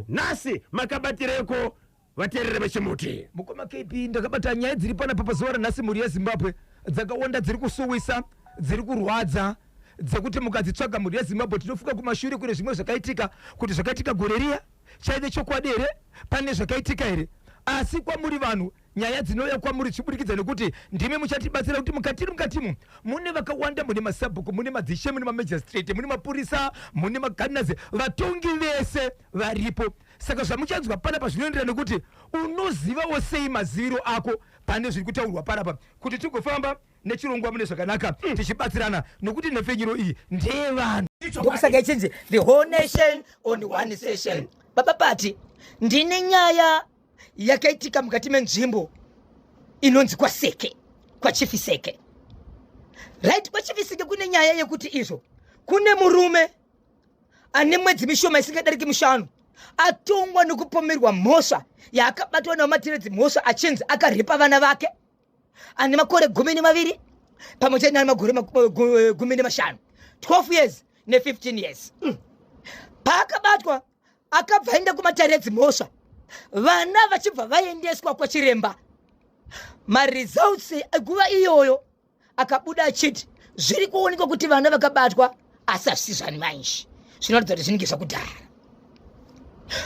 nhasi makabatireiko vateereri vechimuti mukoma kp ndakabata nyaya dziri panapa pazuva ranhasi mhuri yezimbabwe dzakawanda dziri kusuwisa dziri kurwadza dzekuti mukadzitsvaga mhuri yezimbabwe tinofunga kumashure kune zvimwe zvakaitika kuti zvakaitika gore riya chaive chokwadi here pane zvakaitika here asi kwamuri vanhu Nyaya dzinouya kwamuri zvichibudikidza nekuti ndimi muchatibatsira kuti mukatiri mukatimu mune vakawanda, mune masabhuku, mune madzishe, mune mamagistrate, mune mapurisa, mune magardeners, vatongi vese varipo. Saka zvamuchanzwa panapa zvinoenderana nekuti unozivawo sei maziviro ako pane zviri kutaurwa panapa kuti tigofamba nechirongwa mune zvakanaka mm. tichibatsirana nokuti nhepfenyuro iyi ndeyevanhu ndokusaka ichinzi the whole nation on one session baba pati ndine nyaya yakaitika mukati menzvimbo inonzi kwaseke kwachifi seke right kwachifi seke kune nyaya yekuti izvo kune murume ane mwedzi mishoma isingadariki mishanu atongwa nekupomerwa mhosva yaakabatwa nawo matiredzi mhosva achinzi akarepa vana vake ane makore gumi nemaviri pamwe chete nane magore gumi nemashanu 12 years ne15 years mm. paakabatwa akabva aenda kumatare edzimhosva vana vachibva vaendeswa kwachiremba maresults eguva iyoyo akabuda achiti zviri kuonekwa kuti vana vakabatwa asi hazvisi zvani mainji zvinoratidza kuti zvinenge zvakudhara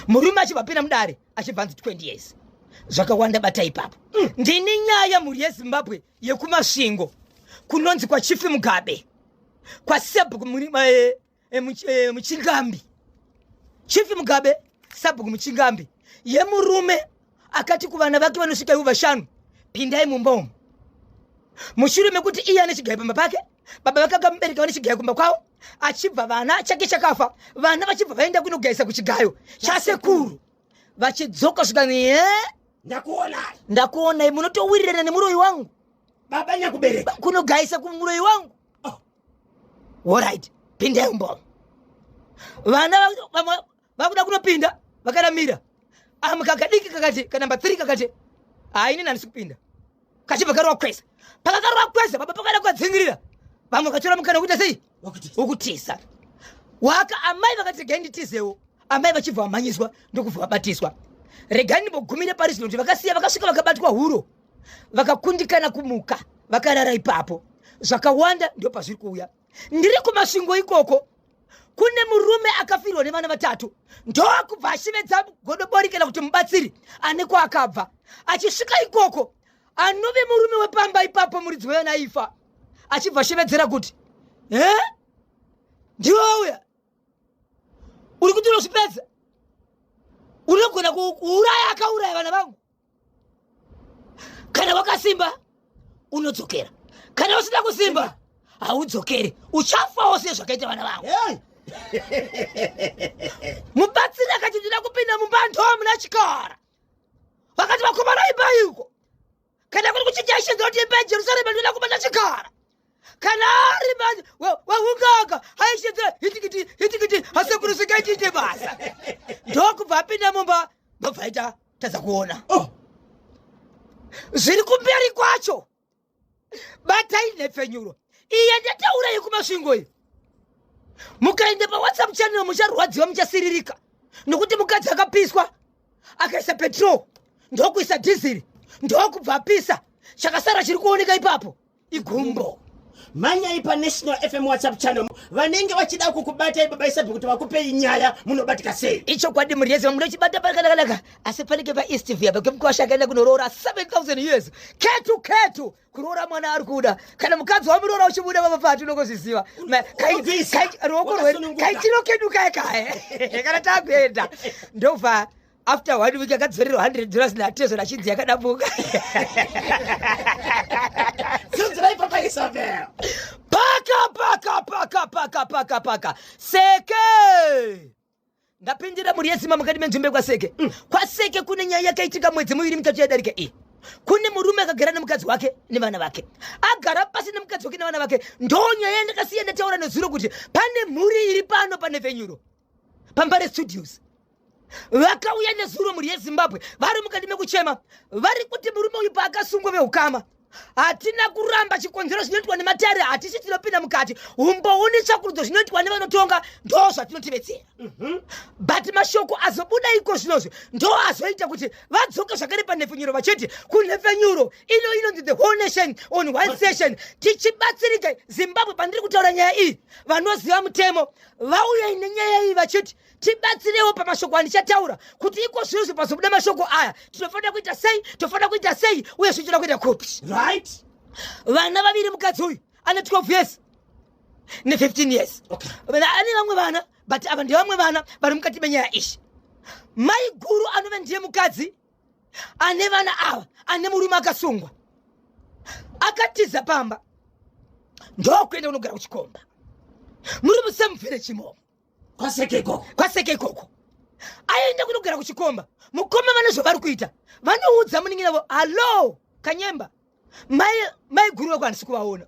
murume achibva pina mudare achibva anzi 20 years zvakawanda bata ipapo mm. ndini nyaya mhuri yezimbabwe yekumasvingo kunonzi kwachifi mugabe kwasebhuku eh, eh, eh, muchingambi chief mugabe sabhuku muchingambi yemurume akati kuvana vake vanosvika ivo vashanu pindai mumba umu mushure mekuti iye ane chigayo pamba pake baba vake akamubereka vane chigayo kumba kwavo achibva vana chake chakafa vana vachibva vaenda kunogaisa kuchigayo chasekuru vachidzoka zvikani e eh? ndakuonai ndakuonai munotowirirana nemuroyi wangu baba nyakubereka kunogaisa kumuroyi wangu orit pindai umbo vana vakuda kunopinda vakaramira amu kakadiki kakati kanamba three kakati haini nandisi kupinda kachibva karova kwese pakakarova kwese baba pakaenda kwadzingirira vamwe vakatora mukana wekuita sei wokutiza waka amai vakati regai nditizewo amai vachibva vamhanyiswa ndokubva vabatiswa regai ndimbogumire pari zvino kuti vakasiya vakasvika vakabatwa huro vakakundikana kumuka vakarara ipapo zvakawanda ndo pazviri kuuya ndiri kumasvingo ikoko kune murume akafirwa nevana vatatu ndokubva ashevedza godobori kana kuti mubatsiri ane kwaakabva achisvika ikoko anove murume wepamba ipapo muridzi wevana aifa achibva ashevedzera kuti he ndiwe wauya uri kuti unozvipedza unogona kuuraya akauraya vana vangu kana wakasimba unodzokera kana usina kusimba haudzokeri uchafawo se zvakaita vana vangu mubatsiri akati ndina kupinda mumba ndomuna chikara vakati vakomana ibaiko kana kuri kuchijaishenza kuti iba jerusalema ndina kubata chikara kana ari manje wehungaka aishedza hitikiti hitikiti asekurusika itiite basa ndokubva apinda mumba ndobva aita tadza kuona oh. zviri kumberi kwacho batai nhepfenyuro iye ndataura yekumasvingo iyo mukaenda pawhatsapp channel mucharwadziwa muchasiririka nokuti mukadzi akapiswa akaisa petrol ndokuisa dhiziri ndokubva apisa chakasara chiri kuoneka ipapo igumbo manyai panational fm whatsapp channel vanenge vachida kukubatai baba isabi kuti vakupei nyaya munobatika sei ichokwadi mhuri yese munochibata panakanaka asi panenge paeast via pakuti mkwasha akaenda kunoroora 7000 years ketu ketu kuroora mwana ari kuda kana mukadzi wamuroora uchibuda baba pati unongozviziva Ma- kai- Unobvisa. kai- ruoko rwedu Wakasununguka. kaichino kedu kaya kaya kana takuenda ndobva after one week akadzorerwa hundred dollars natezvo nachinzi yakadabuka paka paka paka paka paka paka seke ndapindira mhuri yezima mukati menzvimbo yekwaseke mm. kwaseke kune nyaya yakaitika mwedzi miviri mitatu yadarika iyi kune murume akagara nemukadzi wake nevana vake agara pasi nemukadzi wake nevana vake ndonyaya yandakasiya ndataura nezuro kuti pane mhuri iri pano pane venyuro pambare studios vakauya nezuro mhuri yezimbabwe vari mukati mekuchema vari kuti murume uyu paakasungwa veukama hatina kuramba chikonzero zvinoitwa nematare hatisi tinopinda mukati umbouni tsvakurudzo zvinoitwa nevanotonga ndoo zvatinotivetsera mhm. but mashoko azobuda iko zvinozvi ndoo azoita kuti vadzoke zvakare panhepfenyuro vachiti kunhepfenyuro ino inonzi the whole nation on one session tichibatsirika zimbabwe pandiri kutaura nyaya iyi vanoziva mutemo vauyai nenyaya iyi vachiti tibatsirewo pamashoko andichataura kuti iko zvinozvo pazobuda mashoko aya tinofanira kuita sei tinofanira kuita sei uye zvinotoda kuita kupi right vana vaviri mukadzi uyu ane 12 years ne15 years okay. ane vamwe vana but ava ndevamwe vana vari mukati menyaya izvi maiguru anove ndiye mukadzi ane vana ava ane murume akasungwa akatiza pamba ndokuenda kunogara kuchikomba muri musemufere chimomo kwaseke ikoko kwaseke ikoko aenda kunogara kuchikomba mukoma vane zvavari kuita vanoudza muningi navo hallo kanyemba mai mai guru vako handisi kuvaona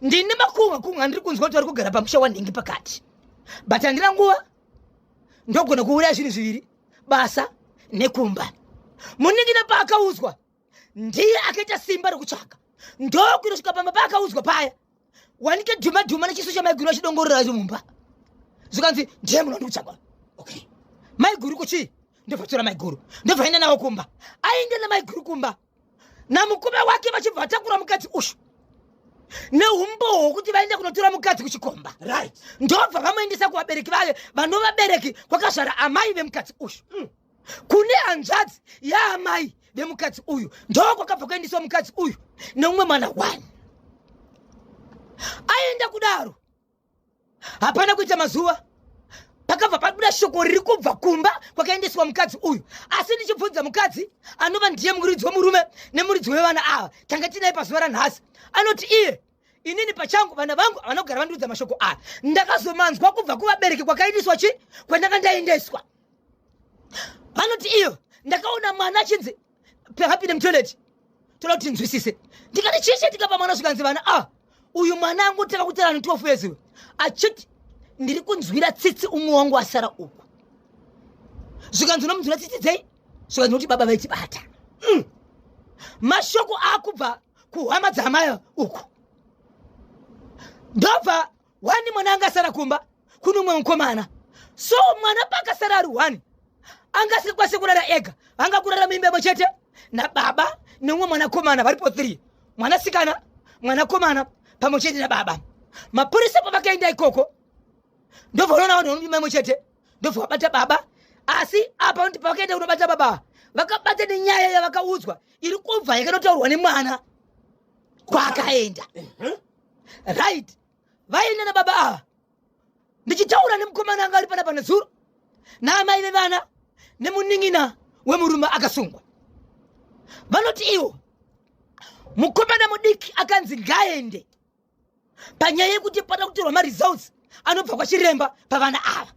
ndine makunga kunga ndiri kunzwa kuti vari kugara pamusha wanhingi pakati but handina nguva ndogona kuuraya zvinhu zviviri basa nekumba muningina paakaudzwa ndiye akaita simba rekutsvaka ndokunosvika pamba paakaudzwa paya wanike dhuma dhuma nechiso chamaiguru achidongorora acho mumba zvikanzi ndiye munhu wandikutsvaka okay maiguru kuchii ndobva tora maiguru ndobva aenda navo kumba aenda namaiguru kumba namukume wake vachibva vatakura mukadzi uyu neumbowo hwokuti vaende kunotora mukadzi kuchikomba right ndobva vamuendesa kuvabereki vake vanovabereki kwakazvara amai vemukadzi uyu mm. kune hanzvadzi yaamai vemukadzi uyu ndoo kwakabva kuendeswa mukadzi uyu neumwe mwana one aenda kudaro hapana kuita mazuva pakabva pabuda shoko riri kubva kumba kwakaendeswa mukadzi uyu asi ndichibvunza mukadzi anova ndiye muridzi wemurume nemuridzi wevana ava tanga tinaye pazuva ranhasi anoti iye inini pachangu vana vangu havana kugara vandiudza mashoko aya ndakazomanzwa kubva kuvabereki kwakaendeswa chi kwandanga ndaendeswa vanoti iyo ndakaona mwana achinzi pahapinde mutoilet toda kuti tinzwisise ndikati chii chaitika pamwana zvikanzi vana a ah, uyu mwana angotanga kutarana 12 years uyu achiti ndiri kunzwira tsitsi umwe wangu asara uku zvikanzi unomunzwira tsitsi dzei zvikanzi kuti baba vaitibata mm. mashoko akubva kuhama dzaamaya uku ndobva wani mwana angasara kumba kune umwe mukomana so mwana paakasara ari one angasikwanise kurara ega vanga kurara muimba imwe chete nababa neumwe mwanakomana varipo three mwanasikana mwanakomana pamwe chete nababa mapurisa pavakaenda ikoko ndovanoona vanhu vanoimba imwe chete ndobva vabata baba asi apa ndi pavakaenda kunobata baba vakabata nenyaya yavakaudzwa iri kubva yakanotaurwa nemwana kwaakaenda right vaenda nababa ava ndichitaura nemukomana anga ari pana pana zuro naamai vevana nemunin'ina wemurume akasungwa vanoti iwo mukomana mudiki akanzi ngaende panyaya yekuti pada kutorwa maresults anobva kwachiremba pavana ava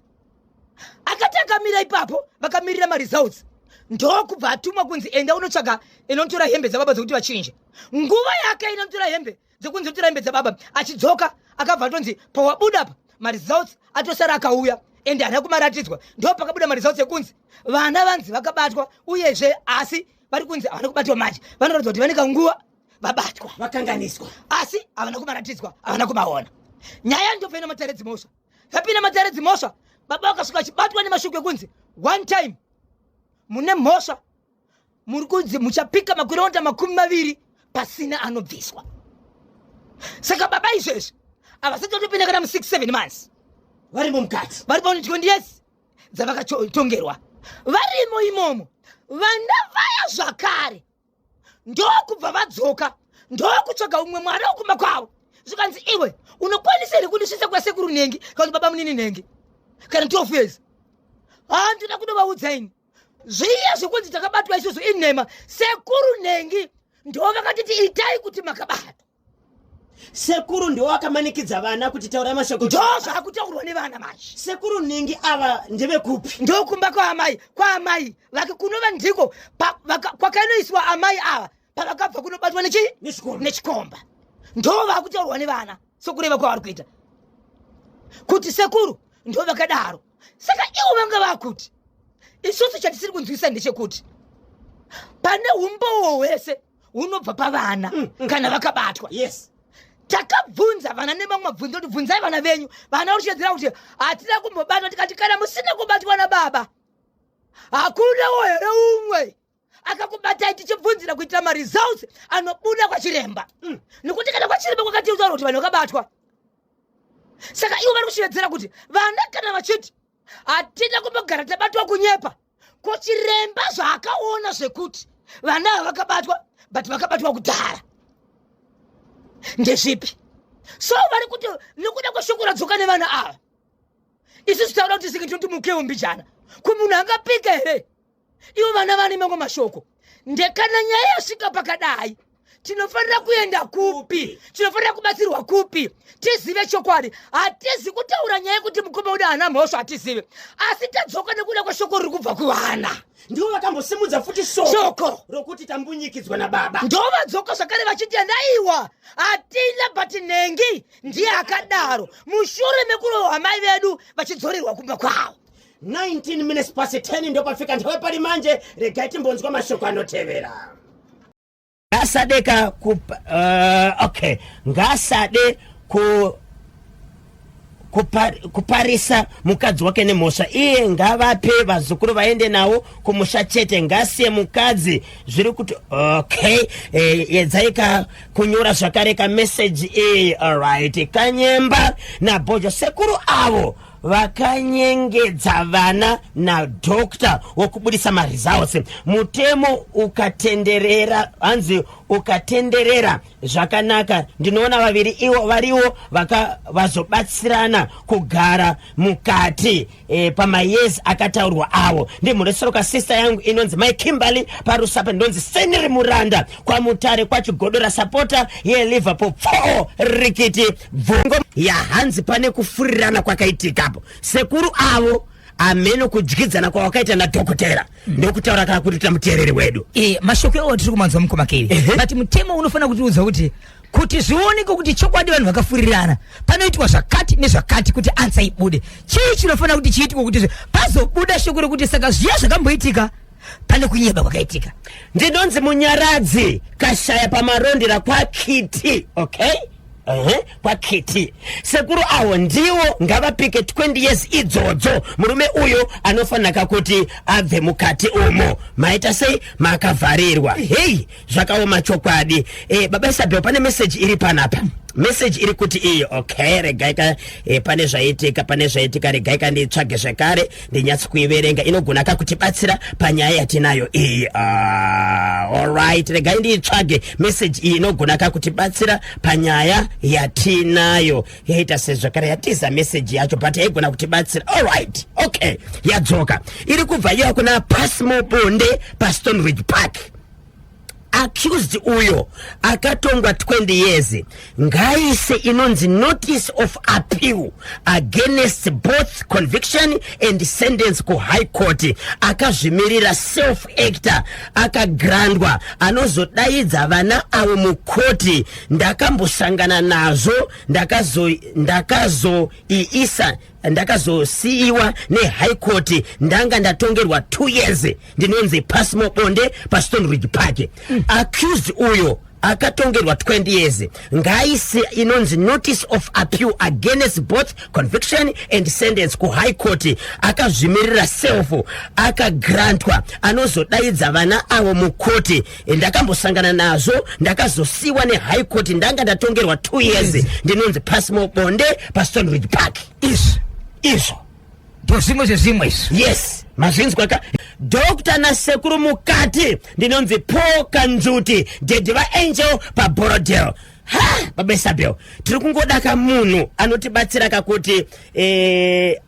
akati akamira ipapo vakamirira maresults ndokubva atumwa kunzi enda unotsvaga inotora hembe dzababa dzekuti vachinje nguva yake inotora hembe dzekunzi kuti rambe dzababa achidzoka akabva atonzi pawabuda apa maresults atosara akauya ende haana kumaratidzwa ndo pakabuda maresults ekunzi vana vanzi vakabatwa uyezve asi vari kunzi havana kubatwa manje vanoratidza kuti vane kanguva vabatwa vakanganiswa asi havana kumaratidzwa havana kumaona nyaya ndopena matare dzimhosva vapina matare dzimhosva baba vakasvika vachibatwa nemashuku ekunzi one time mune mhosva muri kunzi muchapika makuronda makumi maviri pasina anobviswa saka baba izvezvi havasati vatopinda kana mu6 7 months varimo mukati vari paunodyiwa ndiyesi dzavakatongerwa varimo imomo vana vaya zvakare ndokubva vadzoka ndokutsvaga umwe mwana wokumba kwavo zvikanzi iwe unokwanisa here kundisvitsa kwasekuru nhengi kana kuti baba munini nhengi kana 12 years haa ndinoda kunovaudza ini zviya zvekunzi takabatwa isusu inhema sekuru nhengi ndivo vakatiti itai kuti makabatwa sekuru ndiwo akamanikidza vana kuti taura mashoko ndo zvakutaurwa nevana manje sekuru nhingi ava ndevekupi ndokumba kwaamai kwaamai vake kunova ndiko kwakainoiswa amai ava pavakabva kunobatwa nechii nechikomba ndo vakutaurwa nevana sokureva kwavari kuita kuti sekuru ndo vakadaro saka ivo vanga vakuti isusu chatisiri kunzwisa ndechekuti pane umbowo hwese hunobva pavana mm, mm. kana vakabatwa yes takabvunza vana nemamwe mabvunzo kuti bvunzai vana venyu vana vachitedzera kuti hatina kumbobatwa tikati kana musina kubatwa nababa hakuna wo here umwe akakubatai tichibvunzira kuitira maresults anobuda kwachiremba mm. nokuti kana kwachiremba kwakatiutaura kuti vanhu vakabatwa saka ivo vari kushevedzera kuti vana kana vachiti hatina kumbogara tabatwa kunyepa ko chiremba zvaakaona zvekuti vana ava vakabatwa but vakabatwa kudhara ndezvipi so vari kuti nokuda kweshoko radzoka nevana ava isusu taura kuti senge tinoti mukewo mbijana ko munhu angapika here ivo vana vane mamwe mashoko ndekana nyaya yasvika pakadai tinofanira kuenda kupi tinofanira kubatsirwa kupi tizive chokwadi hatizi kutaura nyaya yekuti mukoma uda hana mhosva hatizive asi tadzoka nekuda kweshoko riri kubva kuvana ndivo vakambosimudza futi shoko rokuti tambunyikidzwa nababa ndovadzoka zvakare vachiti andaiwa hatina but nhengi ndiye akadaro mushure mekurohwa mai vedu vachidzorerwa kumba kwavo 19 minutes past 10 ndopafika nthawi pali manje regai timbonzwa mashoko anotevera ngasade ka ku uh, okay ngasade ku kupar, kuparisa mukadzi wake nemhosva iye ngavape vazukuru vaende nawo kumusha chete ngasiye mukadzi zviri kuti okay eh, yedzai e, kunyora zvakare kameseji iyi alright kanyemba nabhojo sekuru avo vakanyengedza vana nadoctor wokubudisa maresults mutemo ukatenderera hanzi ukatenderera zvakanaka ndinoona vaviri ivo variwo vazobatsirana kugara mukati e, pamayezi akataurwa avo ndimhuresoroka sister yangu inonzi mai kimberly parusape ndinonzi seniri muranda kwamutare kwachigodora sapota yeliverpool pfoo rikiti bvongo yahanzi pane kufurirana kwakaitika apo sekuru avo ameno kudyidzana kwawakaita nadhokotera mm. ndokutaura kana kuti tamuteereri wedu e, mashoko iwo tiri kumanzwa mukoma keri uh -huh. but mutemo unofanira kutiudza kuti kuti zvioneke kuti chokwadi vanhu vakafurirana panoitwa zvakati nezvakati kuti ansa ibude chii chinofanira kuti chiitwe kuti pazobuda shoko rekuti saka zviya zvakamboitika pane kunyeba kwakaitika ndinonzi munyaradzi kashaya pamarondera kwakiti okay Ehe, kwakiti sekuru awo ndiwo ngavapike 20 years idzodzo murume uyo anofanaka kuti abve mukati umo maita sei makavharirwa heyi zvakaoma chokwadi e, baba isabel pane meseji iri panapa meseji iri kuti iyi okay regaika e, pane zvaitika pane zvaitika regaika nditsvage zvekare ndinyatsi kuiverenga inogona kakutibatsira panyaya yatinayo iyi uh, alright regai ndiitsvage meseji iyi inogona kakutibatsira panyaya yatinayo yaita sezvakare yatiza meseji yacho but yaigona kutibatsira alright okay yadzoka iri kubva iya kuna pasmobonde pastonridge park accused uyo akatongwa 20 years ngaise inonzi notice of appeal against both conviction and sentence kuhigh court akazvimirira self actor akagrandwa anozodaidza vana avo mukoti ndakambosangana nazvo ndakazoiisa ndakazo ndakazosiiwa nehigh court ndanga ndatongerwa two years ndinonzi pasmo bonde pastone ridge park mm. accused uyo akatongerwa 20 years ngaisi inonzi notice of appeal against both conviction and sentence kuhigh court akazvimirira self akagrantwa anozodaidza vana avo mukoti ndakambosangana nazvo ndakazosiwa nehigh court ndanga ndatongerwa two years ndinonzi pasmo bonde pastonridge park izvo izvo ndozvimwe zvezvimwe izvo yes mazvinzwa ka dokta nasekuru mukati ndinonzi paul kanjuti dedi vaangel paborodel ha babesabel tiri kungodaka munhu anotibatsira kakuti eh,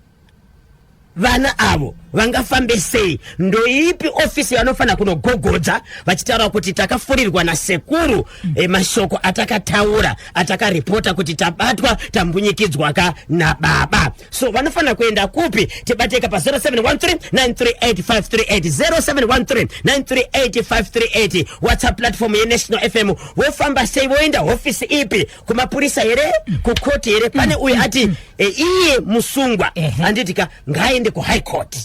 vana avo vangafambe sei ndoipi ofisi yavanofanira kunogogodza vachitaura kuti takafurirwa nasekuru e, mashoko atakataura atakaripota kuti tabatwa tambunyikidzwa ka nababa so vanofanira kuenda kupi tibateka pa 0713938538 whatsapp platform yenational fm vofamba sei voenda hofisi ipi kumapurisa here kukoti here pane uyu ati e, iye musungwa Ehe. anditi ka ngaaende kuhigh court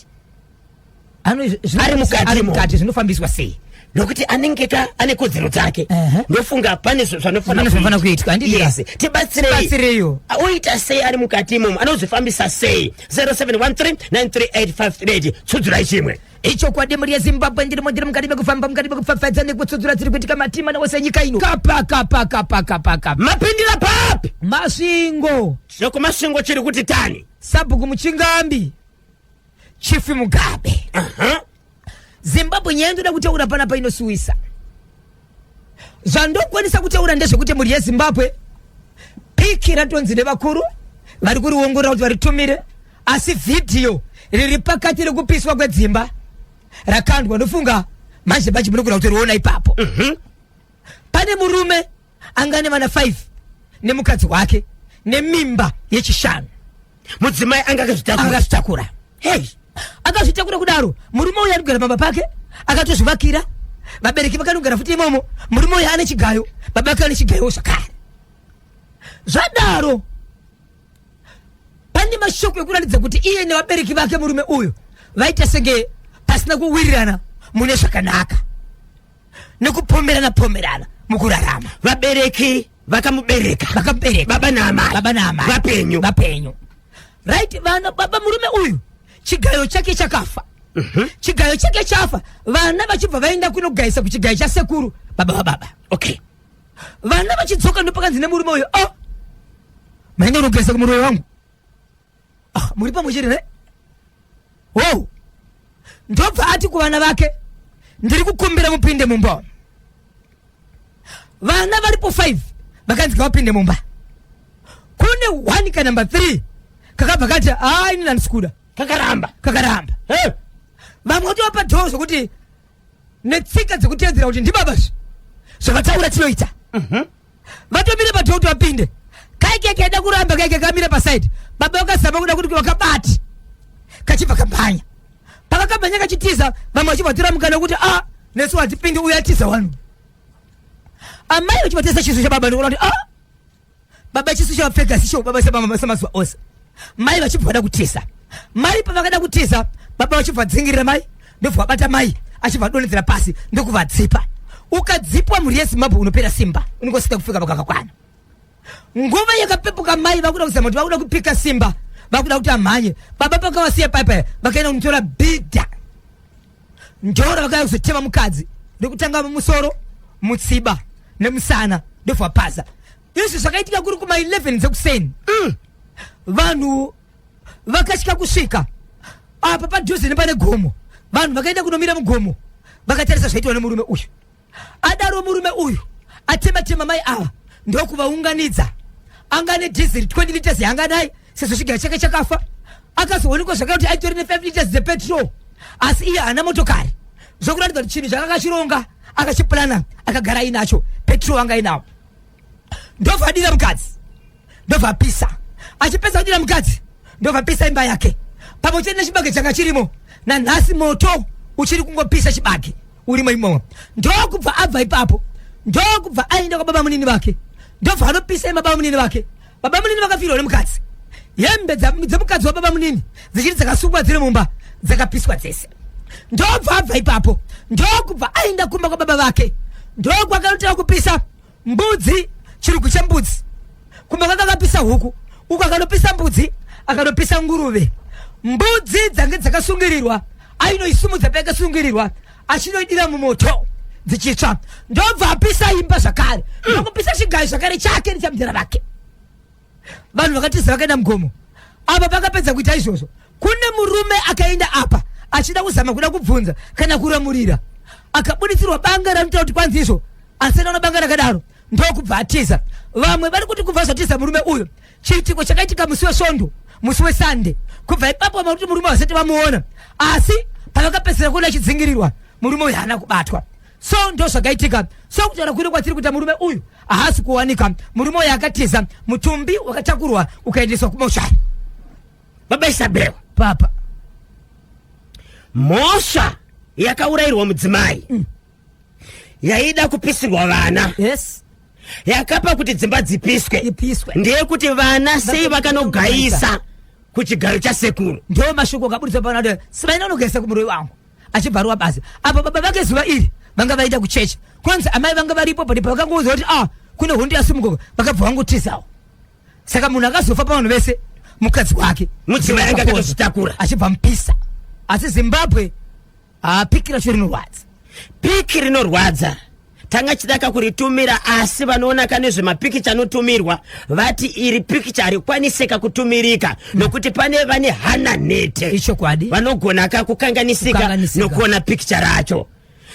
Ano- zvino- Ari mukati ari mo. mukati zvinofambiswa sei nokuti anenge ka ane kodzero dzake Ehe. ndofunga pane zv- Pane zvanofanira kuitwa, handiti ka? Yes. tibatsireiyo Tibatsireiyo. oita sei ari mukati imomo anozvifambisa sei 0713 938 538 tsudzurai chimwe ichokwadi mhuri yezimbabwe ndiri mondiri mukati mekufamba mukati mekupfapfadza nekutsudzura dziri kuitika matima nawose nyika ino kapa kapa kapa kapa kapa mapindira papi masvingo chekumasvingo chiri kuti tani sabhuku muchingambi chifi mugabe uh -huh. zimbabwe nyaya ndoda kutaura panapa inosiwisa zvandokwanisa kutaura ndezvekuti mhuri yezimbabwe piki ratonzi nevakuru vari kuriongorora kuti varitumire asi vhidhiyo riri pakati rekupiswa kwedzimba rakandwa ndofunga manje manje munogona kutoriona ipapo mhm. pane murume angane vana 5 nemukadzi wake nemimba yechishanu mudzimai anga akazvitakura akazvitakura hei akazvitakura kudaro murume uyu anogara pamba pake akatozvivakira vabereki vakanogara futi imomo murume uyu ane chigayo baba ake ane chigayo zvakare zvadaro pane mashoko ekuratidza kuti iye nevabereki vake murume uyu vaita senge pasina kuwirirana mune zvakanaka nekupomberana pomberana mukurarama vabereki vakamubereka vakamubereka baba naamai baba naamai vapenyu vapenyu right vana baba murume uyu chigayo chake chakafa mm -hmm. chigayo chake chafa vana vachibva vaenda kunogayisa kuchigayo chasekuru baba vababa okay vana vachidzoka ndopakanzi nemurume uyu o oh, maenda unogayisa kumuroyi wangu ah, muri pamwe chete ne wow ndobva ati kuvana vake ndiri kukumbira mupinde mumba vana varipo 5 vakanzi ngavapinde mumba kune 1 ka number 3 kakabva kati haa ini nandisikuda kakaramba kakaramba hey. vamwe kuti vapa dhoo zvokuti netsika dzekutedzera kuti ndibaba zve zvavataura tinoita mhm. vatomire padhoo kuti vapinde kaike kaida kuramba kaike kamire pasaidi baba vakazama kuda kuti vakabati kachibva kamhanya pakakamhanya kachitiza vamwe vachibvatora mukana wekuti a ah, nesu hatipindi uya tiza wanu amai vachivatesa chiso chababa ndikuona kuti a ah, baba chiso chavapfeka sicho baba samazuva ose mai vachibva vada kutiza mai pavakada kutiza baba vachibva dzingirira mai ndobva vabata mai achibva adonedzera pasi ndokuvadzipa ukadzipwa mhuri yezimbabwe unopera simba unongosita kufika pakakakwana nguva yakapepuka mai vakuda kuzama kuti vakuda kupika simba vakuda kuti amhanye baba pakavasiya paipa vakaenda kunotora bhidha ndoro vakauya kuzotema mukadzi ndokutanga musoro mutsiba nemusana ndobva paza izvi zvakaitika kuri kuma 11 dzekuseni mm. vanhu vakatya kusvika apa padhuze nepane gomo vanhu vakaenda kunomira mugomo vakatarisa zvaitwa nemurume uyu adaro murume uyu atematema mai ava ndokuvaunganidza anga ane dhiziri 20 liters yaanga naye sezvo chigaya chake chakafa akazoonekwa zvakare kuti aitori ne 5 liters dzepetrol asi iye haana motokari zvokuratidza kuti chinhu chakakachironga akachipurana akagara ainacho petrol anga ainawo ndovadira mukadzi ndovapisa achipedza kudira mukadzi ndovapisa imba yake pamwe chete nechibage changa chirimo nanhasi moto uchiri kungopisa chibage urimo imomo ndokubva abva ipapo ndokubva aenda kwababa munini vake ndobva anopisa imba baba munini vake baba munini vakafirwa nemukadzi hembe dzemukadzi wababa munini dzichiri dzakasungwa dziri mumba dzakapiswa dzese ndobva abva ipapo ndokubva aenda kumba kwababa vake ndokwakanotera kupisa Mbudzi chirugwi chembudzi kumba kanga kapisa huku uku akanopisa mbudzi akanopisa nguruve mbudzi dzange dzakasungirirwa ainoisumudza payakasungirirwa achinoidira mumoto dzichitsva ndobva apisa imba zvakare ndokupisa chigayo zvakare chake nechamdhara vake vanhu vakatiza vakaenda mugomo apa pakapedza kuita izvozvo kune murume akaenda apa achida kuzama kuda kubvunza kana kuramurira akabuditsirwa banga ranotaura kuti kwanzi izvo asi anaona banga rakadaro ndokubva atiza vamwe vari kuti kubva zvatiza murume uyu chiitiko chakaitika musi wesvondo musi wesande kubva ipapo vamwe kuti murume vasati vamuona asi pavakapedzisira kuona achidzingirirwa murume uyu haana kubatwa so ndozvakaitika so kutaura kwino kwatiri kuita murume uyu haasi kuwanika murume uyu akatiza mutumbi wakatakurwa ukaendeswa kumoshari baba isabel papa mhosva yakaurayirwa mudzimai mm. yaida kupisirwa vana yes yakapa kuti dzimba dzipiswe ipiswe ndeyekuti vana sei vakanogayisa kuchigaro chasekuru ndo mashoko akaburitswa panato sivaina unogayisa kumuroyi wangu achibvarwa basa apo baba vake zuva iri vanga vaita kuchechi kwanzi amai vanga varipo pati pavakangoudza kuti ah kune hondo yasimuka vakabva vangotizawo saka munhu akazofa pavanhu vese mukadzi wake mudzimai anga akatozvitakura achibva mupisa asi zimbabwe ah, piki racho rinorwadza piki rinorwadza tanga chidaka kuritumira asi vanoona ka nezvemapikicha anotumirwa vati iri pikicha harikwaniseka kutumirika nokuti pane vane hana nhete ichokwadi vanogona ka kukanganisika nokuona pikicha racho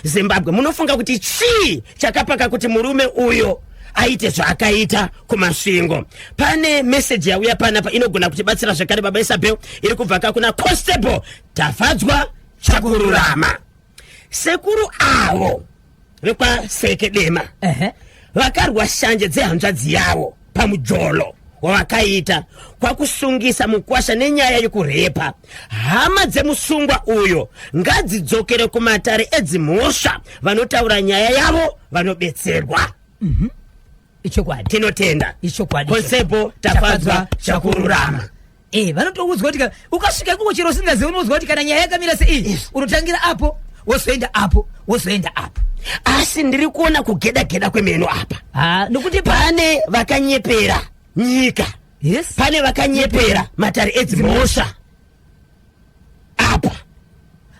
zimbabwe munofunga kuti chii chakapaka kuti murume uyo aite zvaakaita kumasvingo pane meseji yauya panapa inogona kutibatsira zvekare baba isabel iri kubva ka kuna constable tafadzwa chakururama sekuru avo vekwaseke dema vakarwa shanje dzehanzvadzi yavo pamujolo wavakaita kwakusungisa mukwasha nenyaya yekurepa hama dzemusungwa uyo ngadzidzokere kumatare edzimhosva vanotaura nyaya yavo vanobetserwa mm -hmm. ichokwadi tinotenda ichokwadi konsebo tafadzwa chakururama Eh, vanotoudzwa kuti ka- ukasvika ikoko chero usingazivi unoudzwa kuti kana nyaya yakamira seiyi unotangira apo wozoenda apo wozoenda apo asi ndiri kuona kugeda geda kwemeno apa Ah, nokuti pa pane vakanyepera nyika yes pane vakanyepera matare edzimhosva apa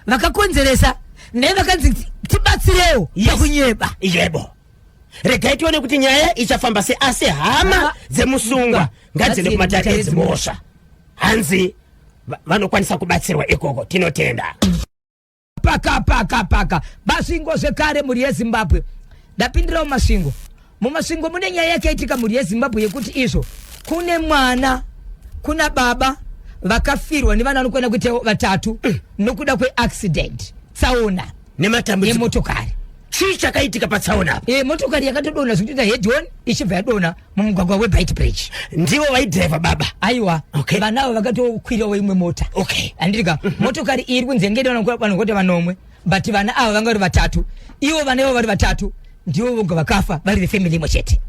vakakonzeresa naye vakanzi tibatsirewo Yes. pakunyeba yebo regai tione kuti nyaya ichafamba se asi hama dzemusungwa ngadziende kumatare edzimhosva hanzi vanokwanisa kubatsirwa ikoko tinotenda paka paka paka basvingo zvekare mhuri yezimbabwe ndapindirawo masvingo mumasvingo mune nyaya yakaitika mhuri yezimbabwe yekuti izvo kune mwana kuna baba vakafirwa nevana vanokwana kuita vatatu nokuda kweaccident tsaona nematambudziko emotokari chii chakaitika patsaona apa e, motokari yakatodona zvikutoita hedon ichibva yadona mumugwagwa webit bridge ndivo vaidriva baba aiwa okay. vanavo vakatokwirawo imwe mota okay. andirika mm -hmm. motokari iri kunze ngevanhu kuti vanomwe but vana ava vanga vari vatatu ivo vana ivo vari vatatu ndivo voga vakafa vari vefamily imwe chete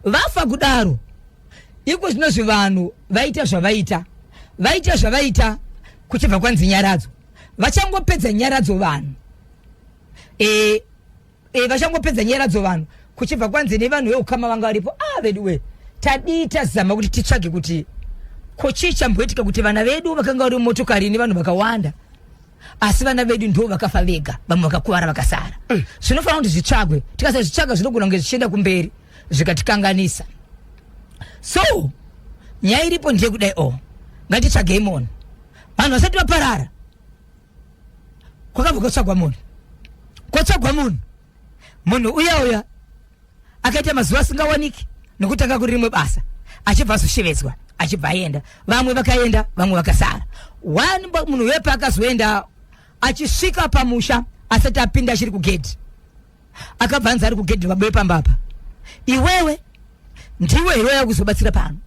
vafa kudaro iko zvinozvi vanhu vaita zvavaita vaita zvavaita kuchibva kwanzi nyaradzo vachangopedza nyaradzo vanhu e, e, vachangopedza nyaradzo vanhu kuchibva kwanzi nevanhu veukama vanga varipo a ah, veduwe tadii tazama kuti titsvage kuti ko chii chamboitika kuti vana vedu vakanga vari mumotokari nevanhu vakawanda asi vana vedu ndo vakafa vega vamwe vakakuvara vakasara mm. zvinofanira kuti zvitsvagwe tikasazvitsvaga zvinogona kunge zvichienda kumberi zvikatikanganisa so nyaya iripo ndeyekudai o oh, ngatitsvagei mona vanhu vasati vaparara kwakabva kotsvagwa munhu kotsvagwa munhu munhu uya uya akaita mazuva asingawaniki nokuti anga kuri rimwe basa achibva azoshevedzwa achibva aenda vamwe vakaenda vamwe vakasara one munhu wepa akazoenda achisvika pamusha asati apinda achiri kugedhi akabva anzi ari kugedhi babuye pamba apa iwewe ndiwe here waya kuzobatsira pano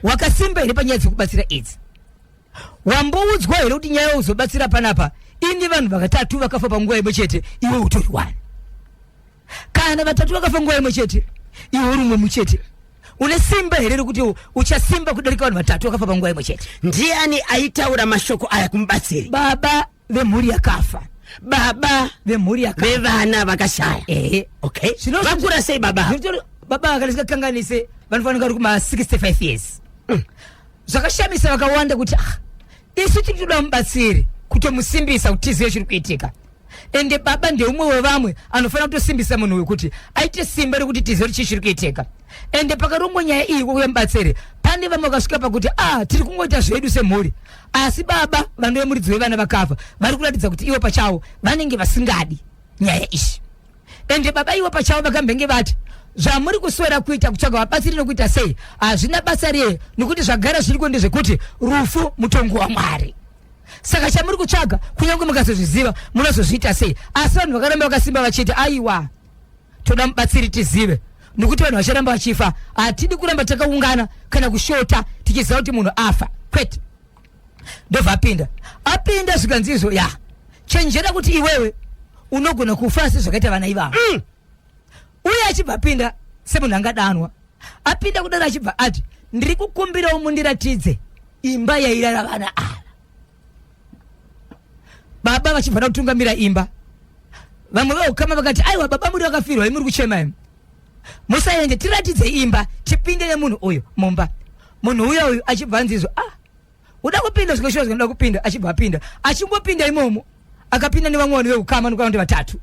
wakasimba here panyaya dzekubatsira idzi wamboudzwa here kuti nyaya uzobatsira panapa ini vanhu vakatatu vakafa panguva imwe chete iwe utori wani kana vatatu vakafa nguva imwe chete iwe uri umwe muchete une simba here rekuti u- uchasimba kudarika vanhu vatatu vakafa panguva imwe chete ndiani aitaura mashoko aya kumubatsiri baba vemhuri yakafa baba vemhuri yakafa vevana vakashaya ehe okay Zvino- vakura sei baba ava? Zvinotaura- baba ava kana zvingakanganise vanofanira vari kuma 65 years zvakashamisa vakawanda kuti ah, isu tiri toda mubatsiri kutomusimbisa kuti tizive chiri kuitika ende baba ndeumwe wevamwe anofanira kutosimbisa munhu uyu kuti aite simba rekuti tizive kuti chii chiri kuitika ende pakarongwa nyaya iyi kwekuya mubatsiri pane vamwe vakasvika pakuti ah tiri kungoita zvedu semhuri asi baba vanove muridzi wevana vakafa vari kuratidza kuti ivo pachavo vanenge vasingadi nyaya izvi ende baba ivo pachavo vakambenge vati zvamuri kuswera kuita kutsvaga vabatsiri nokuita sei hazvina basa riye nokuti zvagara zviriko ndezvekuti rufu mutongo wamwari saka chamuri kutsvaga kunyange mukazozviziva munozozviita sei asi vanhu vakaramba vakasimba vachiti aiwa toda mubatsiri tizive nokuti vanhu vacharamba vachifa hatidi kuramba takaungana kana kushota tichiziva kuti munhu afa kwete ndobva apinda apinda zvikanzi izvo ya chenjera kuti iwewe unogona kufa sezvakaita vana ivavo mm. uye achibva apinda semunhu angadanwa apinda kudaro achibva ati ndiri kukumbirawo mundiratidze imba yairara vana ava baba vachibva da kutungamira imba vamwe veukama vakati aiwa baba muri vakafirwa imuri kuchema imi musaende tiratidze imba tipinde nemunhu uyu mumba munhu uya uyu achibva anzizwa ah uda kupinda zvikoshua zvinoda kupinda achibva apinda achingopinda imomo akapinda nevamwe vanhu veukama nokwana kuti vatatu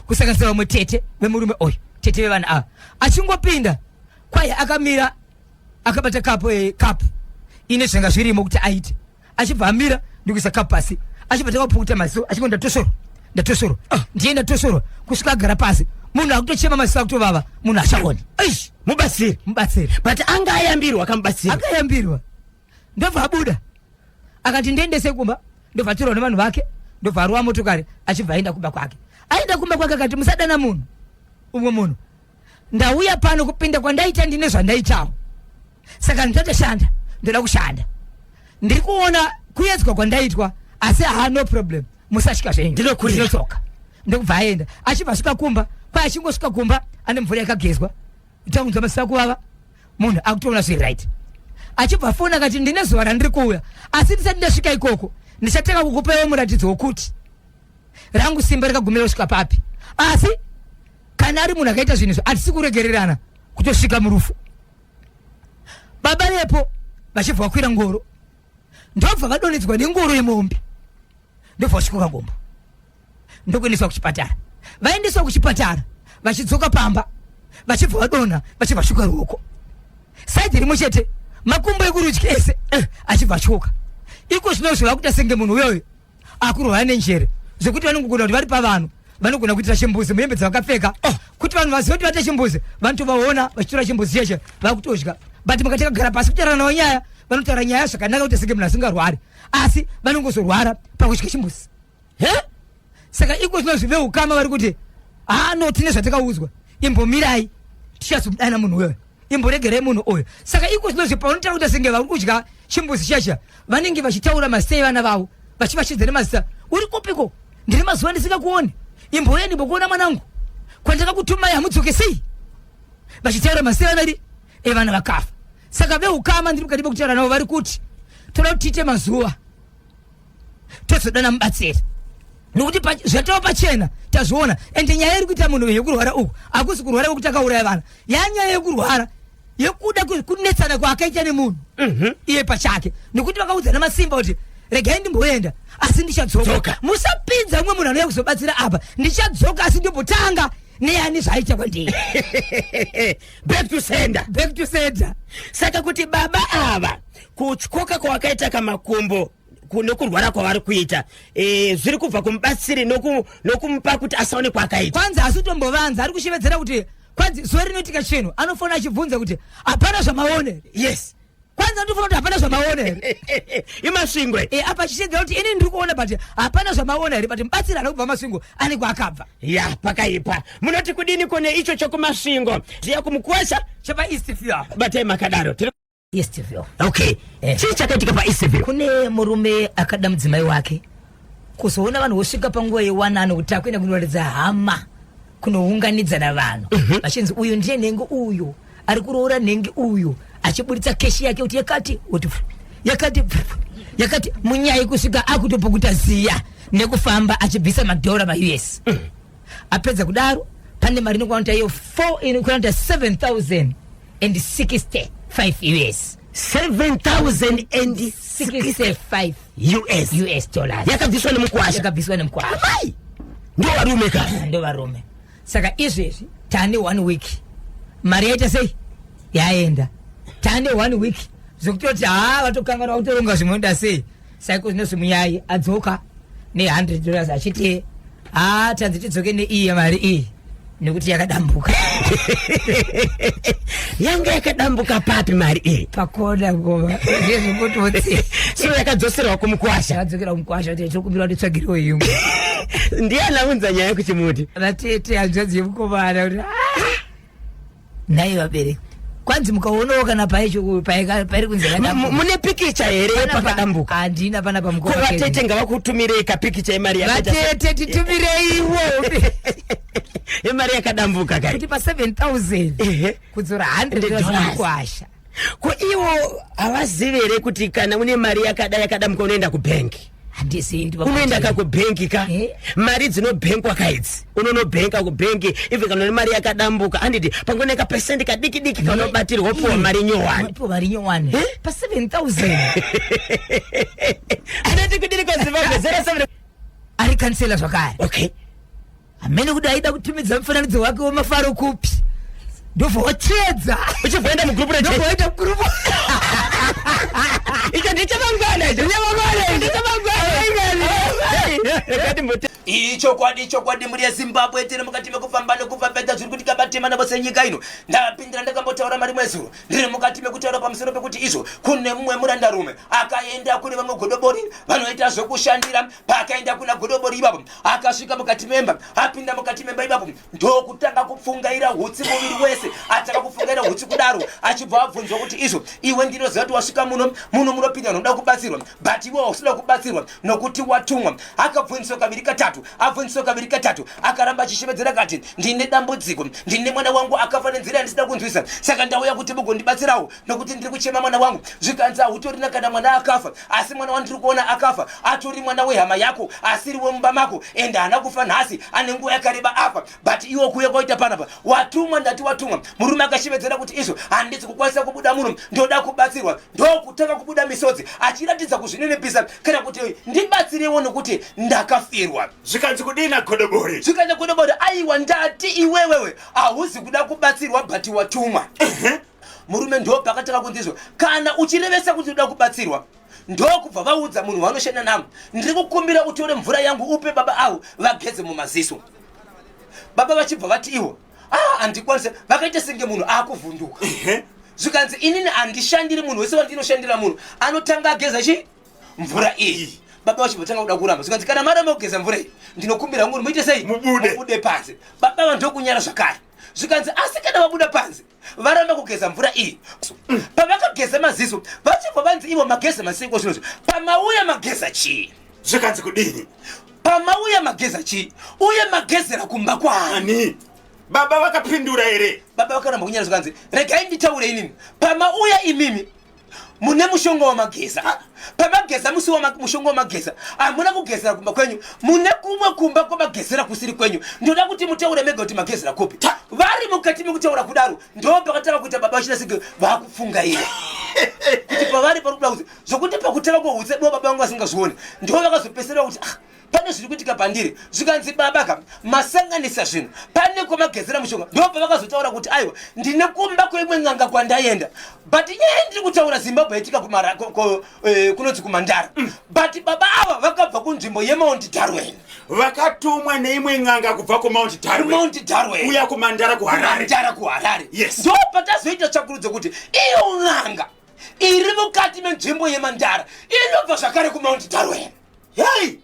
kusanganisa vamwe tete vemurume uyu tete vevana ava achingopinda kwaye akamira akabata kapu e, kapu ine zvenga zvirimo kuti aite achibva amira ndikuisa kapu pasi achibva takapukuta maziso achingo ndatosoro ndatosoro ah. ndiye ndatosoro kusvika agara pasi munhu akutochema maziso akutovava munhu achaoni eish mubatsiri mubatsiri but anga ayambirwa akamubatsira anga ayambirwa ndobva abuda akati ndiendese kumba ndobva atorwa nevanhu vake ndobva arowa motokari achibva aenda kumba kwake aenda kumba kwake akati musadana munhu umwe munhu ndauya pano kupinda kwandaita ndine zvandaitawo saka ndatoshanda ndoda kushanda ndiri kuona kuyedzwa kwandaitwa asi haa no problem musasvika zvenyu ndinodzoka ndokubva aenda achibva asvika kumba kwai achingosvika kumba ane mvura yakagezwa takunzwa masisa kuvava munhu akutoona zviri right achibva afona akati ndine zuva randiri kuuya asi ndisati ndasvika ikoko ndichatanga kukupewo muratidzo wokuti rangu simba rikagumira kusvika papi asi kana ari munhu akaita zvinhu izvo hatisi kuregererana kutosvika murufu baba vepo vachibva vakwira ngoro ndobva vadonedzwa nengoro yemombe ndobva vasvikoka gombo ndokuendeswa kuchipatara vaendeswa kuchipatara vachidzoka pamba vachibva vadonha vachibva vasvika ruoko saidi rimwe chete makumbo ekurudyi ese eh, achibva atyoka iko zvino zvakuita senge munhu uyoyo akurohwa nenjere zvekuti vanongogona kuti vari pavanhu vanogona kuitira chimbuzi muhembe dzavakapfeka oh. kuti vanhu vazive kuti vaita chimbuzi vanotovaona vachitora chimbuzi cheshe vakutodya but mukati kagara pasi kutaura navo nyaya vanotaura nyaya zvakanaka kuti senge munhu asingarwari asi vanongozorwara pakudya chimbuzi he saka iko zvino zvive ukama vari kuti haa no tine zvatakaudzwa imbomirai tichazomudana munhu wewe imboregerai munhu uyu saka iko zvinozve paunotaura kuti senge vari kudya chimbuzi chasha vanenge vachitaura masei vana vavo vachivashidza nemazita uri kupiko ndiri mazuva ndisingakuoni imboya ndimbokuona mwanangu kwandakakutumai hamudzoke sei vachitaura masei vana ri evana eh, vakafa saka veukama ndiri mukati mekutaura navo vari kuti toda kuti tiite mazuva tozodana mubatsiri nokuti zvatava pachena tazviona ende nyaya iri kuita munhu yekurwara uku hakusi kurwara kwekuti akauraya vana yanyaya yekurwara yekuda kunetsana kwaakaita nemunhu mhm. iye pachake nokuti vakaudzana masimba kuti regai ndimboenda asi ndichadzoka musapinza umwe munhu anouya kuzobatsira apa ndichadzoka asi ndimbotanga neani zvaiita kwandiri back to sender back to sender saka kuti baba ava kutyoka kwawakaita kamakumbo nokurwara kwavari kuita e, zviri kubva kumubatsiri nokumupa kuti asaone kwaakaita kwanzi asi utombovanza ari kushevedzera kuti kwanzi zuva rinoitika chinhu anofona achibvunza kuti hapana zvamaone yes kwanza ndifuna kuti hapana zvamaona here imasvingo e, apa chichegera kuti ini ndiri kuona but hapana zvamaona here but mubatsiri ari kubva masvingo ane kwaakabva ya pakaipa munoti kudini kone icho chokumasvingo zviya kumukwasha chepa east few apa batai makadaro Eastville. Okay. Eh. Chii chakaitika pa Eastville? Kune murume akada mudzimai wake. Kuzoona vanhu vosvika panguva yewanano kuti akuenda kunoratidza hama kunounganidza na vanhu. Mm -hmm. Vachinzi uyu ndiye nhengo uyu ari kuroora nhengi uyu achiburitsa keshi yake kuti yakati kuti yakati yakati munyai kusvika akutopukuta ziya nekufamba achibvisa madhora ma us mm. apedza kudaro pane mari inokuanoita iyo 4 inokuanoita 7000 and 65 us 7065 us us dollars yakabviswa nemukwasha yakabviswa nemukwasha amai ndo varume ka ndo varume saka izvezvi tane one week mari yaita sei yaenda tane one week zvekutoti haa vatokanganwa kutoronga zvimwe oda sei saiko zvinonzi muyai adzoka ne100 dollars achiti haa tanzi tidzoke neiyi mari iyi nekuti yakadambuka yanga yakadambuka papi mari iyi pakona ngoma zvezvekutotsi so yakadzoserwa kumukwasha yakadzokera kumukwasha kuti tokumbira kuti tsvagiriwo imwe ndiye anaunza nyaya kuchimuti vatete hanzvadzi yemukomana kuti ah! nhai vabereki kwanzi mukaonawo kana pairi kunzi mune pikicha here yepakadambuka handina pana pamukoko vatete ngavakutumirei kapikicha yemari vatete titumireiwo yemari yakadambuka kakuti pa 7000 kudzora 100 zvakuasha ko iwo havazive here kuti kana une mari yakada yakada muka unoenda kubhengi unoenda ka kubhengi ka eh? mari dzinobhenkwa ka idzi unonobhenka kubhengi even kana une mari yakadambuka anditi pango nekapesenti kadiki diki kanobatirwa opiwa eh? mari nyowani eh? pa 7000 anoti kudiri kwazimbabwe 07 ari kansela zvakare okay hamene kuti aida kutumidza mufananidzo wake wemafaro kupi ndobva wachiedza uchibvoenda mugrupu ndobva waita grupu icho ndechamangwana icho ndechamangwana ndechamangwana ichokwadi ichokwadi mhuri yezimbabwe tiri mukati mekufamba nekufambedza zviri kuti kabatema navo senyika ino ndapindira ndakambotaura mari mwezuro ndiri mukati mekutaura pamusoro pekuti izvo kune mumwe murandarume akaenda kune vamwe godobori vanoita zvekushandira paakaenda kuna godobori ivapo akasvika mukati memba apinda mukati memba ipapo ndokutanga kupfungaira hutsi muviri wese atanga kupfungaira hutsi kudaro achibva abvunzwa kuti izvo iwe ndinoziva kuti wasvika muno muno munopinda noda kubatsirwa but iwe wausida kubatsirwa nokuti watumwa akabvunziswa kaviri katatu abvunziswa kaviri katatu akaramba achishevedzera kati ndine dambudziko ndine mwana wangu akafa nenzira yandisida kunzwisa saka ndauya kuti mugondibatsirawo nokuti ndiri kuchema mwana wangu zvikanzi hautorina kana mwana akafa asi mwana wandiri kuona akafa atori mwana wehama yako asiri wemumba mako and haana kufa nhasi ane nguva yakareba afa but iwo kuuya kwaita panapa watumwa ndati watumwa murume akashevedzera kuti izvo handisi kukwanisa kubuda muno ndoda kubatsirwa ndokutanga kubuda misodzi achiratidza kuzvinenepisa kana kuti ndibatsirewo nokuti ndakafirwa zvikanzi kudina godobori zvikanzi godobori aiwa ndati iwewewe hauzi kuda kubatsirwa but watumwa murume ndopaakatanga kundizwa kana uchirevesa kuti uda kubatsirwa ndokubva vaudza munhu wanoshanda navo ndiri kukumbira utore mvura yangu upe baba avo vageze mumaziso baba vachibva vati ivo ah handikwanise vakaita senge munhu akuvhunduka zvikanzi inini handishandiri munhu wese wandinoshandira munhu anotanga ageza chi mvura iyi baba vacho vatanga kuda kuramba zvikanzi kana maramba kugeza mvura iyi ndinokumbira nguri muite sei mubude panze baba vanhu ndokunyara zvakare zvikanzi asi kana vabuda panze varamba kugeza mvura iyi pavakageza maziso vachibva vanzi ivo mageza masiko zvinozvo pamauya mageza chii zvikanzi kudini pamauya mageza chii uye magezera kumba kwaani baba vakapindura here baba vakaramba kunyara zvikanzi regai nditaure inini pamauya imimi mune mushonga wamageza ah, pamageza musi mushonga wamageza hamuna kugezera kumba kwenyu mune kumwe kumba kwamagezera kusiri kwenyu ndoda kuti mutaure mega kuti magezera kupi vari mukati mekutaura kudaro ndo pakatanga kuita baba vachina sige vakufunga iye kuti pavari pari kuda kuti zvokuti pakutanga kwohutse do baba vangu vasingazvioni ndo vakazopesera kuti ah, pane zviri kuitika pandiri zvikanzi baba ka masanganisa zvinhu pane kwamagezera mushonga ndo pavakazotaura kuti aiwa ndine kumba kweimwe n'anga kwandaenda but nyaya ndiri kutaura zimbabwe yaitika eh, kunonzi kumandara mm. but baba ava vakabva kunzvimbo yemount darwen vakatumwa neimwe n'anga kubva kumount darwenmount darwen uya kumandara kuhararemandara kuharare yes ndo patazoita tsvakurudzo kuti iyo n'anga iri mukati menzvimbo yemandara inobva zvakare kumount darwen hei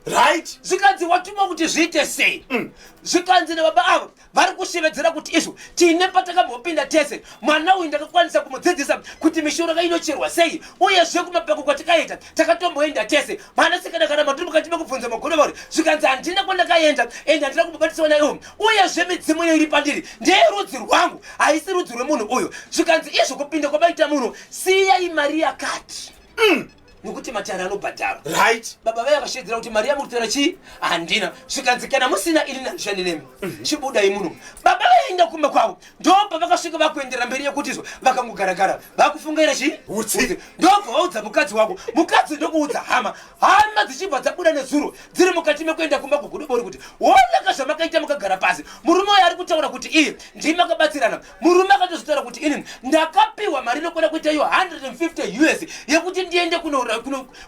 right zvikanzi watuma kuti zviite sei mm. zvikanzi nababa avo vari kushevedzera kuti izvo tine patakambopinda tese mwana uyu ndakakwanisa kumudzidzisa kuti mishonga inocherwa sei uyezve kumapako kwatakaenda takatomboenda tese mwana sikana kana matiri mukati mekubvunza magono vauri zvikanzi handina kwandakaenda ende handina kumbobatiswa naiwo uyezve midzimu iyo iri pandiri ndeyerudzi rwangu haisi rudzi rwemunhu uyu zvikanzi izvo kupinda kwabaita munhu siyai mari yakati mm. nokuti matare anobhadharwa right baba vaya vakashedzera kuti mari yamurutera chii handina zvikanzi kana musina ini nandishandi nemi mhm. chibudai muno baba vaenda kumba kwavo ndobva vakasvika vakuendera mberi yekutizwa vakangogaragara vakufungaira chii utsi ndobva vaudza mukadzi wako mukadzi ndokuudza hama hama dzichibva dzabuda nezuro dziri mukati mekuenda kumba kugudobori kuti wonaka zvamakaita mukagara pasi murume uyo ari kutaura kuti iye ndii makabatsirana murume akatozvitaura kuti inini ndakapiwa mari inokwana kuita iyo 150 us yekuti ndiende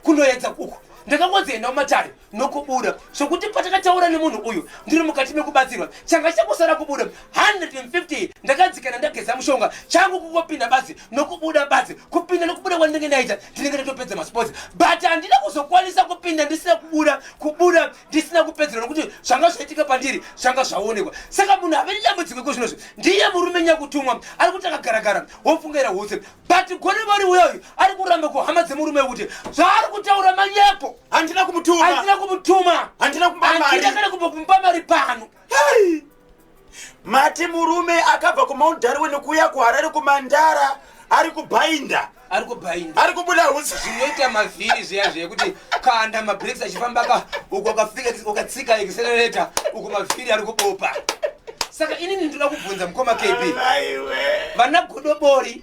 kunoedza kuku ndakangodzienda mumatare nokubuda zvokuti patakataura nemunhu uyu ndiri mukati mekubatsirwa changa chakusara kubuda 150 ndakadzikana ndageza mushonga changu kungopinda badzi nokubuda badzi kupinda nokubuda kwandinenge ndaita ndinenge ndatopedza masports but handina kuzokwanisa kupinda ndisina kubuda kubuda ndisina kupedzerwa nokuti zvanga zvaitika pandiri zvanga zvaonekwa saka munhu ave nedambudziko iko zvinozvi ndiye murume nyakutumwa ari kuti akagaragara wofungaira hutse but gone vari uya uyu ari kuramba kuhama dzemurume wekuti zvaari kutaura manyepo handina kumutuma handina kumutuma handina kumba mari handina kana kumbokumba mari pano Hai! Mati murume akabva kuMount Darwin kuuya kuHarare kumandara ari kubhainda ari kubhainda ari kubuda hutsi zvinoita mavhiri zviya zviya kuti kanda mabreaks achifamba ka uku akafika ukatsika accelerator uku mavhiri ari kubopa saka inini ndinoda kubvunza mukoma kb vana godobori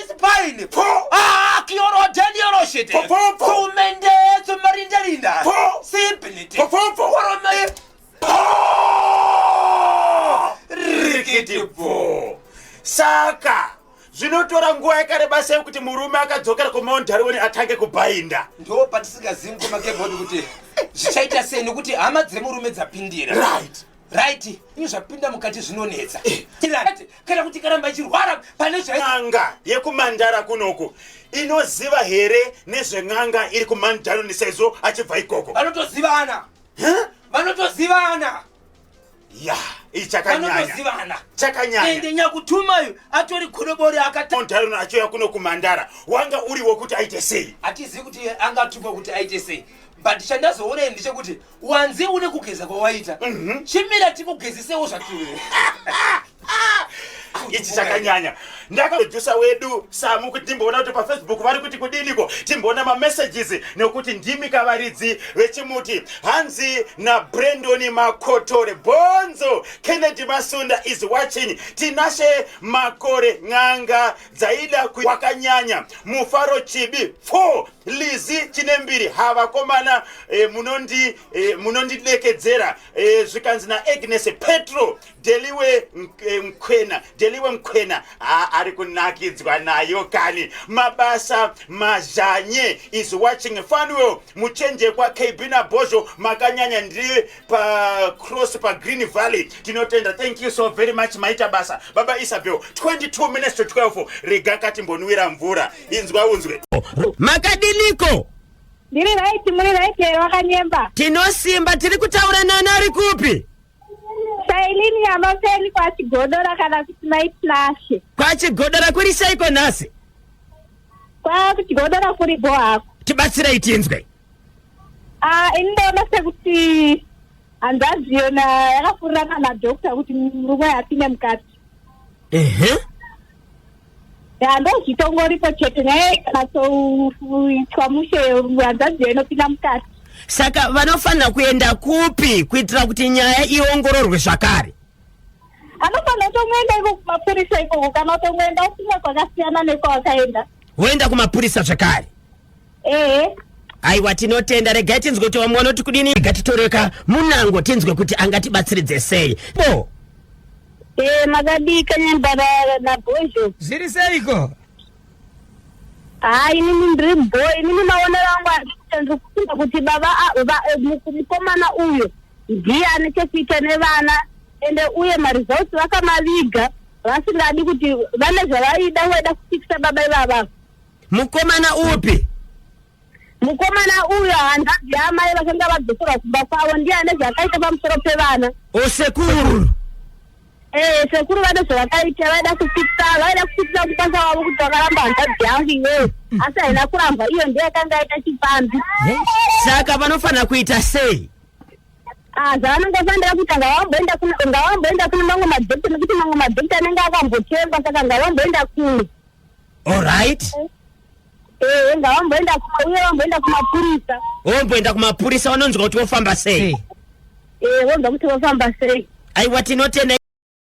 Paine po. Ah, kioro delioro shete. Po po po. Kumende ezo marinda rinda. Po. Simpinite. Po po po. Warome. Po. Rikiti po. Saka. Zvinotora nguva yakareba sei kuti murume akadzokera kuMount Darwin atange kubhainda. Ndo patisingazivi mukoma kebodi kuti zvichaita sei nekuti hama dzemurume dzapindira. Right. right ini zvapinda mukati zvinonetsa eh. tirati kana kuti karamba ichirwara pane zvan'anga yekumandara kunoku inoziva here nezven'anga iri kumandaro nesaizvo achibva ikoko vanotozivana vanotozivana ya ichakanyanya chakanyanya nyakutumayo atori korobori akatondarona achiuya kuno kumandara wanga uri wokuti aite sei hatizivi kuti angatuma kuti aite sei but chandazoona ini ndechekuti wanzi une kugeza kwawaita mhm. chimira tikugezisewo zvakiwe ichi chakanyanya ndakaprodusa wedu samu kuti timboona kuti pafacebook vari kuti kudiniko timboona mamessages nekuti ndimi kavaridzi vechimuti hanzi nabrendoni makotore bonzo kennedy masunda is watching tinashe makore n'anga dzaida wakanyanya mufaro chibi pfo Lizzy Chinembiri ha vakomana eh, munondi eh, munondidekedzera eh, zvikanzi na Agnes Petro Deliwe eh, Mkwena Deliwe Mkwena ha ari kunakidzwa nayo kani mabasa mazhanye is watching Fanuel muchenje kwa KB na Bozho makanyanya ndiri pa cross pa Green Valley tinotenda thank you so very much maita basa baba Isabel 22 minutes to 12 rega kati mbonwira mvura inzwa unzwe makadiniko Ndiri right, muri right here wakanyemba. tinosimba tiri kutaura nani ari kupi Sailini yamafeni kwa Chigodora kana kuti mai Tinashe. kwachigodora kuri seiko nhasi Kwa Chigodora kuri go hako. tibatsirei tinzwe Ah, ini ndaona sekuti hanzaziyo na yakafurirana na doctor kuti murume apinde mukati. ehe ya ndozvitongoripo chete nyaya ikanasoitwa mushe hanzadzi yainopinda mukati saka vanofanira kuenda kupi kuitira kuti nyaya iongororwe zvakare anofanira kutongoenda iko kumapurisa ikoko kana utongoenda ufunga kwakasiyana nekwawakaenda woenda kumapurisa zvakare ehe aiwa tinotenda regai tinzwe kuti vamwe vanoti kudini rega titoreka munango tinzwe kuti angatibatsiridze sei bo e makadika nembara nabhozho zviri seiko haa inini ndiri bho inini maonero angu andikuita ndiri kufunga kuti baba a- va- eh, muku- mukomana uyu ndiye ane chekuita nevana ende uye maresults vakamaviga vasingadi kuti vane zvavaida vaida kufikisa baba ivava mukomana upi mukomana uyo hanzvadzi yaamai vakanga vadzoserwa kumba kwavo ndiye ane zvakaita pamusoro pevana osekuru ee sekuru vane zvavakaita vaida kupitsa vaida kupitsa mukwanisa wavo kuti vakaramba hanzvadzi yangu iweyo asi haina kurambwa iyo ndiye yakanga aita chipfambi saka vanofanira kuita sei Ah, zvavanenge vafanira kuita ngavamboenda kuno ngavamboenda kuno mamwe madhokita nekuti mamwe madhokita anenge akambotengwa saka ngavamboenda kuno Alright. Eh, enga vamboenda kuma uye vamboenda kumapurisa. Womboenda kumapurisa wanonzwa kuti wofamba sei? Sei? Eh, vonzwa kuti vofamba sei. Aiwa tinotenda